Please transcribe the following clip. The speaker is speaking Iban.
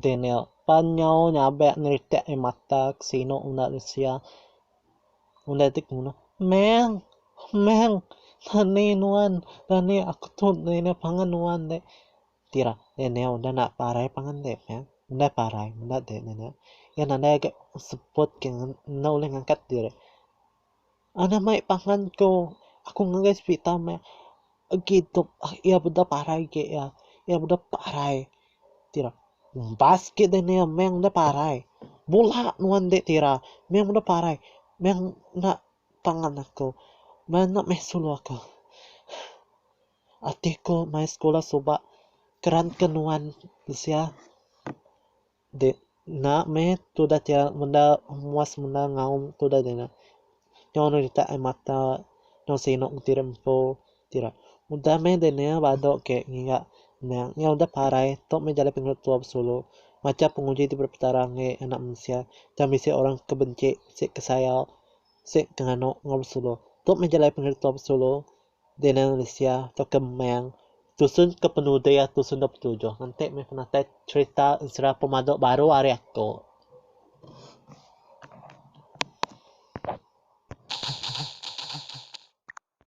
Daniel, pan nyau nyabek ngeritak ai mata ke sinu udah deh sia. Udah deh kemudah, Meng! Meng! Rani nuan, rani aku tu rindu pangan nuan deh. Ti ira, Daniel udah enda parai pangan deh, Meng. Udah parai, udah deh Daniel. Iya nadai agak seput ke enda ulih ngangkat diri. Anak mai pangan tu aku ngagai serita meh agi dep iya dep parai agi iya. Iya dep parai ti ira umbas agi deh nia meh ngan deh parai. Bula nuan deh ti ira meh ngan deh parai meh ena pangan aku meh ena meh sulu aku. Ati ku mai sekula suba keran ke nuan bisi iya. Deh enda meh tudah ti menda muas menda ngaum tudah deh nya. Nyau anu ditak air mata nyau sinuk enti ira empu ti ira. Udah meh deh nya badu ke ngiga nya nyau udah parai tu meh jalai pengeluk tua besulu. Macha penguji ti beri petara enggi anak mensia tang bisi orang ke benci, bisi ke sayau, bisi ke nganu enggau besulu. Tu meh jalai pengeluk tua besulu. Dina Lucia tauka Meng tusun ke penudi ari tusun dua puluh tujuh enti meh penatai cherita ensera pemadu baru ari aku.